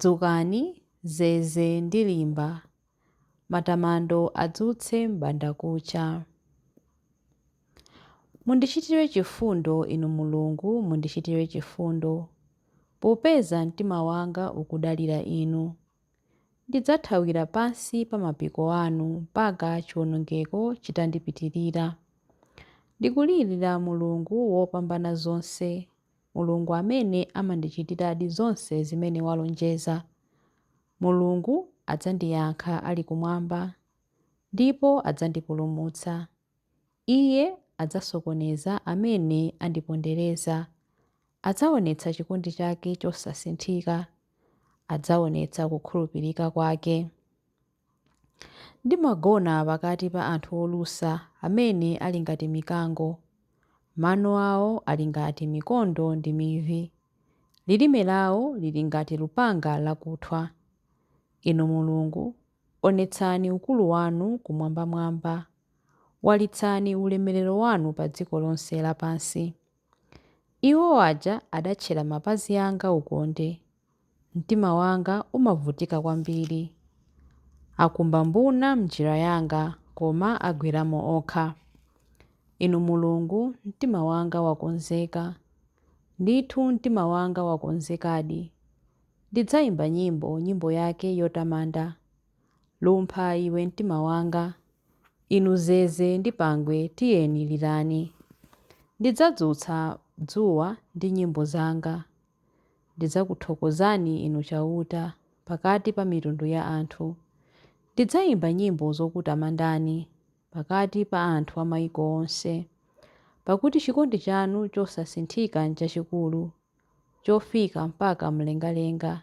Dzukani, zeze ndi limba, matamando adzutse m'bandakucha. Mundichitire chifundo, Inu Mulungu, mundichitire chifundo, popeza mtima wanga ukudalira Inu. Ndidzathawira pansi pa mapiko anu mpaka chiwonongeko chitandipitirira. Ndikulirira Mulungu Wopambanazonse, Mulungu amene amandichitiradi zonse zimene walonjeza. Mulungu adzandiyankha ali kumwamba ndipo adzandipulumutsa. Iye adzasokoneza amene andipondereza. Adzaonetsa chikondi chake chosasinthika. Adzaonetsa kukhulupirika kwake. Ndimagona pakati pa anthu olusa amene ali ngati mikango. Mano awo ali ngati mikondo ndi mivi. Lilime lawo lili ngati lupanga lakuthwa. Inu Mulungu, onetsani ukulu wanu kumwambamwamba. Walitsani ulemerero wanu padziko lonse lapansi. Iwo aja adatchera mapazi anga ukonde. Mtima wanga umavutika kwambiri. Akumba mbuna m'njira yanga, koma agweramo okha. Inu Mulungu, mtima wanga wakonzeka. Ndithu mtima wanga wakonzekadi. Ndidzaimba nyimbo, nyimbo yake yotamanda. Lumpha iwe mtima wanga. Inu Zeze ndi Pangwe tiyeni lirani. Ndidzadzutsa dzuwa ndi nyimbo zanga. Ndidzakuthokozani Inu Chauta pakati pa mitundu ya anthu. Ndidzaimba nyimbo zokutamandani pakati pa anthu a maiko onse. Pakuti chikondi chanu chosasinthika nchachikulu, chofika mpaka mlengalenga.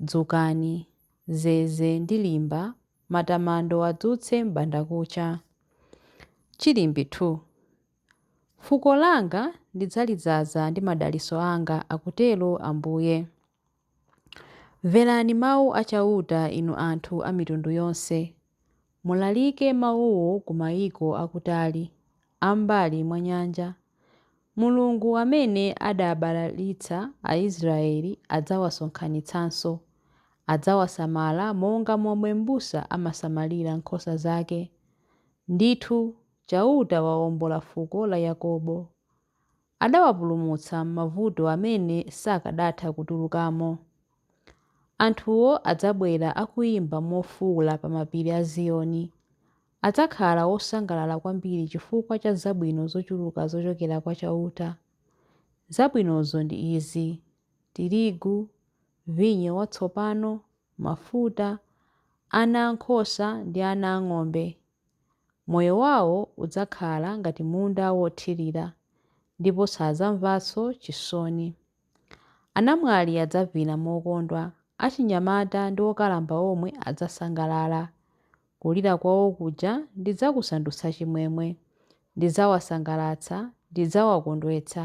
Dzukani, zeze ndi limba, matamando adzutse m'bandakucha. Chilimbi 2. Fuko langa ndidzalidzaza ndi madalitso anga, akutero Ambuye. Mverani mau a Chauta, inu anthu a mitundu yonse. Mulalike mawuwo ku maiko akutali, a m'mbali mwa nyanja. Mulungu amene adabalalitsa Aisraele adzawasonkhanitsanso. Adzawasamala monga momwe mbusa amasamalira nkhosa zake. Ndithu, Chauta waombola fuko la Yakobo. Adawapulumutsa m'mavuto amene sakadatha kutulukamo. Anthuwo adzabwera akuimba mofuula pa mapiri a Ziyoni. Adzakhala osangalala kwambiri chifukwa cha zabwino zochuluka zochokera kwa Chauta. Zabwinozo ndi izi, tirigu, vinyo watsopano, mafuta, ana a nkhosa ndi ana a ng'ombe. Moyo wawo udzakhala ngati munda wothirira ndipo sadzamvanso chisoni. Anamwali adzavina mokondwa, achinyamata ndi okalamba omwe adzasangalala. Kulira kwawo kuja ndidzakusandutsa chimwemwe. Ndidzawasangalatsa, ndidzawakondwetsa.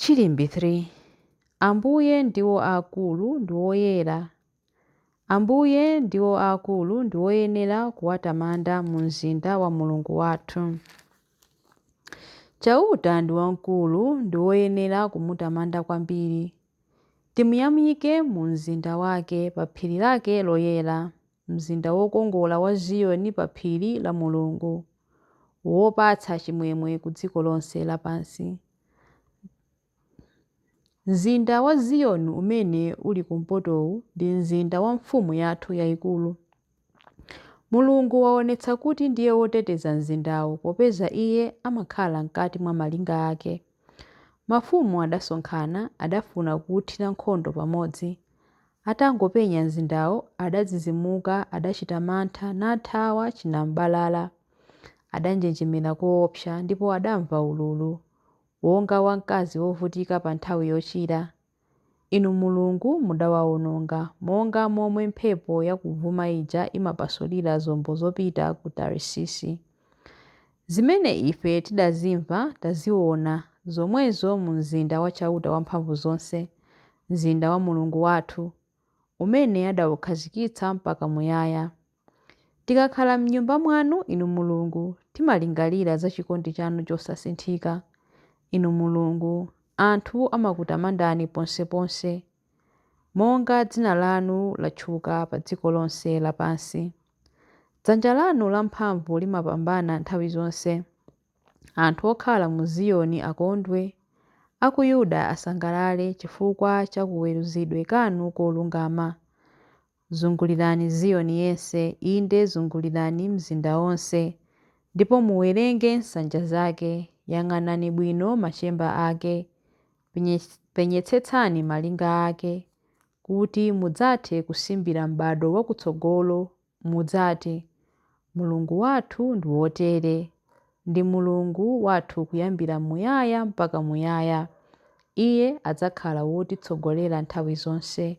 Chilimbi 3 Ambuye ndiwo aakulu ndi woyera Ambuye ndiwo aakulu ndi woyenera kuwatamanda mu mzinda wa Mulungu wathu. Chauta ndi wamkulu ndi woyenera kumutamanda kwambiri. Timuyamike mu mzinda wake, pa phiri lake loyera. mzinda wokongola wa Ziyoni pa phiri la Mulungu, wopatsa chimwemwe ku dziko lonse lapansi. Mzinda wa Ziyoni umene uli kumpotowu ndi mzinda wa Mfumu yathu yaikulu. Mulungu waonetsa kuti ndiye woteteza mzindawo popeza iye amakhala mkati mwa malinga ake. Mafumu adasonkhana, adafuna kuuthira nkhondo pamodzi. Atangopenya mzindawo, adadzidzimuka, adachita mantha, nathawa chinam'balala. Adanjenjemera koopsa, ndipo adamva ululu, wonga wa mkazi wovutika pa nthawi yochira. Inu Mulungu mudawawononga, monga momwe mphepo yakuvuma ija imapasulira zombo zopita ku Tarisisi. Zimene ife tidazimva, taziona, zomwezo mu mzinda wa Chauta Wamphamvuzonse, mzinda wa Mulungu wathu, umene adaukhazikitsa mpaka muyaya. Tikakhala m'Nyumba mwanu, Inu Mulungu, timalingalira za chikondi chanu chosasinthika. Inu Mulungu, anthu amakutamandani ponseponse, monga dzina lanu latchuka pa dziko lonse lapansi. Dzanja lanu lamphamvu limapambana nthawi zonse. Anthu okhala mu Ziyoni akondwe, a ku Yuda asangalale chifukwa cha kaweruzidwe kanu kolungama. Zungulirani Ziyoni yense, inde zungulirani mzinda wonse, ndipo muwerenge nsanja zake, yang'anani bwino machemba ake, penyetsetsani malinga ake, kuti mudzathe kusimbira m'bado wakutsogolo, mudzati, Mulungu wathu ndi wotere, ndi Mulungu wathu kuyambira muyaya mpaka muyaya, Iye adzakhala wotitsogolera nthawi zonse.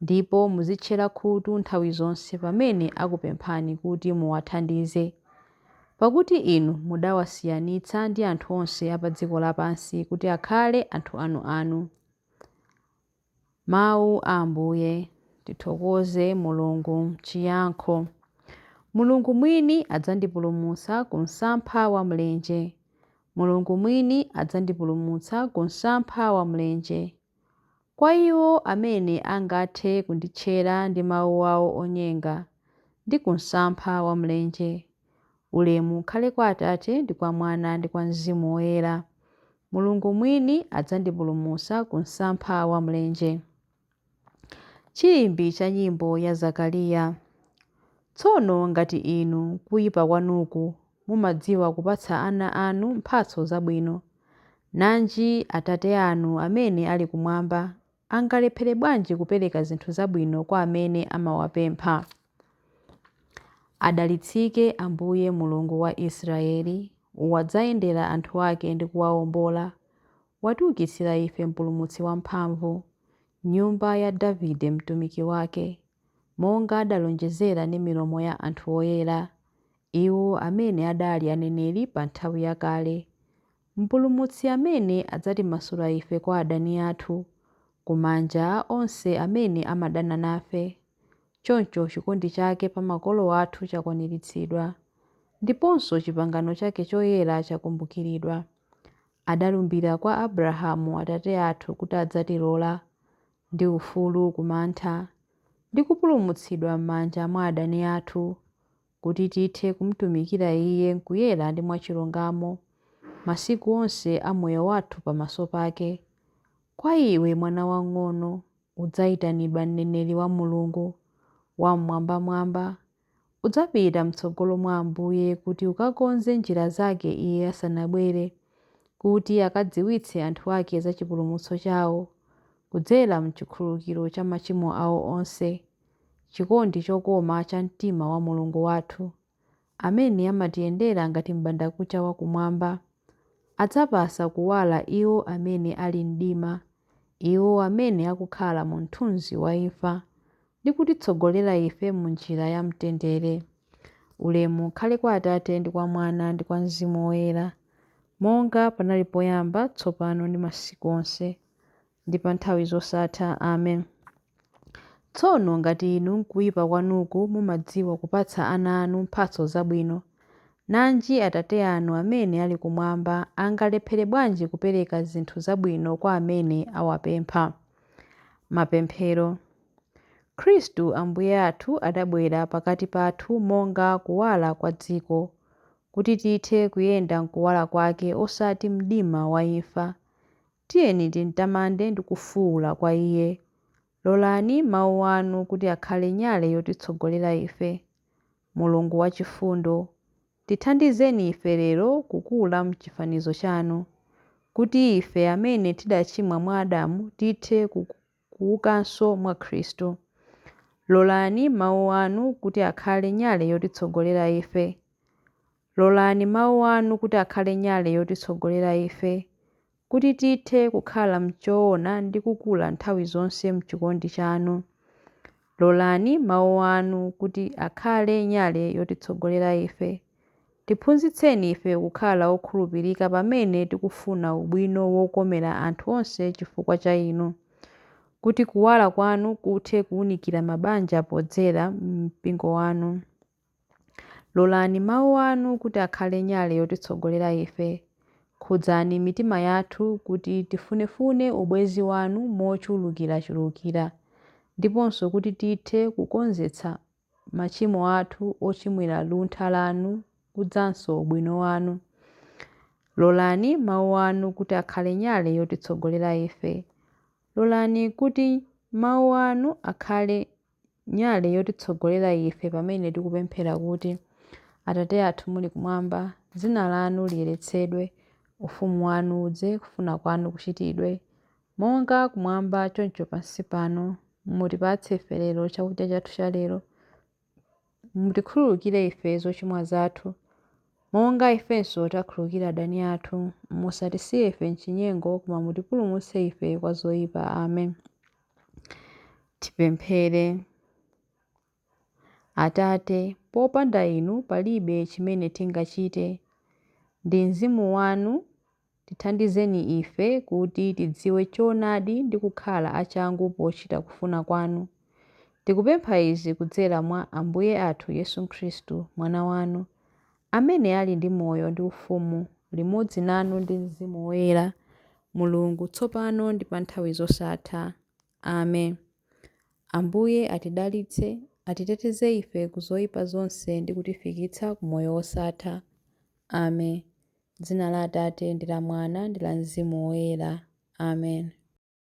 Ndipo muzitchera khutu nthawi zonse pamene akupemphani kuti muwathandize. Pakuti inu mudawasiyanitsa ndi anthu onse a pa dziko lapansi kuti akhale anthu anuanu. Mawu a Ambuye. Tithokoze Mulungu. Chiyankho Mulungu mwini adzandipulumutsa ku msampha wa mlenje. Mulungu mwini adzandipulumutsa ku msampha wa mlenje. Kwa iwo amene angathe kunditchera ndi mawu awo onyenga, ndi ku msampha wa mlenje, ulemu ukhale kwa Atate ndi kwa Mwana ndi kwa Mzimu Woyera. Mulungu mwini adzandipulumutsa ku msampha wa mlenje. Chilimbi cha nyimbo ya Zakariya. Tsono ngati inu kuipa kwanuku mumadziwa kupatsa ana anu mphatso zabwino, nanji Atate anu amene ali kumwamba, angalephere bwanji kupereka zinthu zabwino kwa amene amawapempha? Adalitsike Ambuye Mulungu wa Israeli, wadzayendera anthu ake ndi kuwaombola, watiukitsira ife Mpulumutsi wamphamvu, nyumba ya Davide mtumiki wake, monga adalonjezera ndi milomo ya anthu oyera. Iwo amene adali aneneri pa nthawi yakale, Mpulumutsi amene adzatimasula ife kwa adani athu, ku manja a onse amene amadana nafe. Choncho chikondi chake pa makolo athu chakwaniritsidwa, ndiponso chipangano chake choyera chakumbukiridwa. Adalumbira kwa Abrahamu atate athu kuti adzatilola, ndi ufulu ku mantha, ndi kupulumutsidwa m'manja mwa adani athu, kuti tithe kumtumikira Iye m'kuyera ndi mwachilungamo, masiku onse a moyo wathu pamaso pake. Kwa iwe, mwana wang'ono, udzaitanidwa mneneri wa Mulungu Wam'mwambamwamba. Udzapita m'tsogolo mwa Ambuye kuti ukakonze njira zake Iye asanabwere, kuti akadziwitse anthu ake za chipulumutso chao, kudzera m'chikhululukiro cha machimo ao onse. chikondi chokoma cha mtima wa Mulungu wathu, amene amatiyendera ngati m'bandakucha wa kumwamba, adzapasa kuwala iwo amene ali m'mdima, iwo amene akukhala mu mthunzi wa imfa, ndi kutitsogolera ife mu njira ya mtendere. Ulemu ukhale kwa Atate, ndi kwa Mwana, ndi kwa Mzimu Woyera, monga panali poyamba, tsopano, ndi masiku onse. ndi pa nthawi zosatha. Amen. Tsono ngati inu m'kuipa kwanuku mumadziwa kupatsa ana anu mphatso zabwino, nanji Atate anu amene ali kumwamba angalephere bwanji kupereka zinthu zabwino kwa amene awapempha! Mapemphero. Khristu Ambuye athu adabwera pakati pathu monga kuwala kwa dziko, kuti tithe kuyenda m'kuwala kwake osati m'mdima wa imfa. Tiyeni timtamande ndi kufuula kwa Iye. Lolani Mawu Anu kuti akhale nyale yotitsogolera ife. Mulungu wachifundo, tithandizeni ife lero kukula m'chifanizo Chanu, kuti ife amene tidachimwa mwa Adamu tithe ku, kuukanso mwa Khristu. Lolani Mawu Anu kuti akhale nyale yotitsogolera ife. Lolani Mawu Anu kuti akhale nyale yotitsogolera ife, kuti tithe kukhala mchoona ndi kukula nthawi zonse mchikondi Chanu. Lolani Mawu Anu kuti akhale nyale yotitsogolera ife. Tiphunzitseni ife kukhala okhulupirika pamene tikufuna ubwino wokomera anthu onse chifukwa cha Inu. Kuti Kuwala Kwanu kuthe kuunikira mabanja podzera m'Mpingo Wanu. Lolani Mawu Anu kuti akhale nyale yotitsogolera ife. Khudzani mitima yathu kuti tifunefune ubwenzi Wanu mochulukirachulukira, ndiponso kuti tithe kukonzetsa machimo athu ochimwira luntha Lanu kudzanso ubwino Wanu. Lolani Mawu Anu kuti akhale nyale yotitsogolera ife. Lolani kuti Mawu Anu akhale nyale yotitsogolera ife pamene tikupemphera kuti, Atate athu muli kumwamba, dzina lanu liyeretsedwe, ufumu wanu udze, kufuna kwanu kuchitidwe, monga kumwamba choncho pansi pano. Mutipatse ife lero chakudya chathu cha lero. Mutikhululukire ife zochimwa zathu, monga ifenso takhululukira adani athu. Musatisiye ife m'chinyengo, koma mutipulumutse ife kwa zoyipa. Amen. Tipemphere. Atate, popanda Inu palibe chimene tingachite. Ndi mzimu wanu tithandizeni ife kuti tidziwe choonadi ndi kukhala achangu pochita kufuna kwanu. Tikupempha izi kudzera mwa Ambuye athu Yesu Khristu, Mwana wanu. amene ali ndi moyo ndi ufumu limodzi nanu ndi Mzimu Woyera, Mulungu, tsopano ndi pa nthawi zosatha. Amen. Ambuye atidalitse, atiteteze ife ku zoipa zonse ndi kutifikitsa ku moyo wosatha. Amen. Dzina la Atate ndi la Mwana ndi la Mzimu Woyera. Amen.